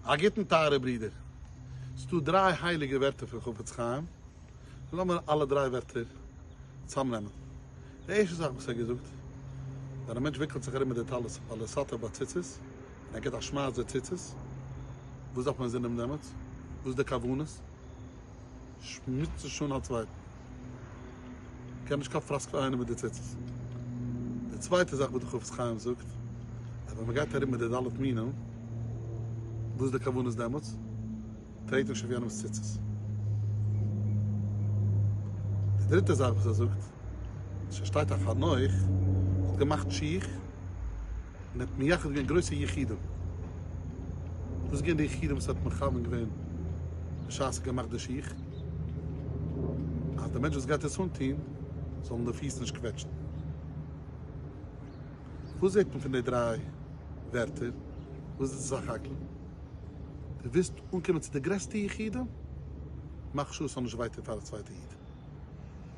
א גוטן טייערע ברודער. ס'דא דריי הייליגע ווערטער פון חפץ חיים, לאמיר אלע דריי ווערטער צאמנעמען. די ערשטע זאך וואס ער האט געזאגט, ווען א מענטש וויקלט זיך ארום מיט די טלית ווייל ער סאטער ביי ציצית, און ער גיבט א שמייס די ציצית, וואס דארף מען זינען דעמאלטס? וואס איז די כוונות? שמוצן שוין א צווייטן. קען נישט קיין פראסקעל איינער מיט די ציצית. די צווייטע זאך וואס די חפץ חיים זאגט אז ווען מען גייט ארום מיט די ד' מינים וואס איז די כוונה איז דעמאלטס טרעט נישט אויף יענעמס ציצית. די דריטע זאך וואס ער זאגט אז ס'שטייט א חנוך האט געמאכט שיך און ער האט מייחד געווען גרויסע יחידים. וואס איז געווען די יחידים וואס ער האט מכוון געווען בשעת ער האט געמאכט די שיך? אז דער מענטש וואס גייט עס אנטון זאל אים די פיס נישט קוועטשן. וואס זעט מען פון די דריי ווערטער? וואס איז סך הכל? דו ווילסט אנקומען צו די גרעסטע יחידים? מאך שוא עס זאל נישט וויי טון פאר א צווייטע איד.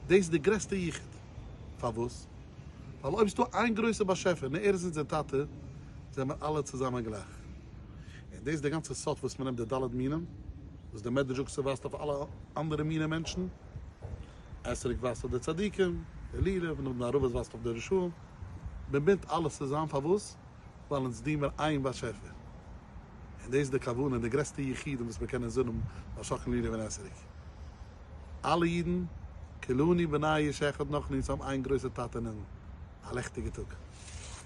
דאס איז די גרעסטע יחוד. פארוואס? ווייל אויב ס'דא איין גרויסע באשעפער און ער איז אונזער טאטע, זעמיר אלע צוזאמען גלייך. און דאס איז די גאנצע סוד וואס מ'נעמט די ד' מינים. וואס די מדרש זאגט ס'ווייזט אויף אלע אנדערע מיני מענטשן, עשריק ווייזט אויף די צדיקים, אלילה, און אבן ערבה ווייזט אויף די רשעים, מען בינדט אלעס צוזאם פארוואס? ווייל אונז דינען מיר איין באשעפער, און דאס איז די כוונה, די גרעסטע יחידים וואס מיר קענען זאנען משא כ לילי און עשריק, אלע אידן כולנו בני איש אחד נאכן אונז האבן איין גרויסע טאטע'ן און א לעכטיגע טאג.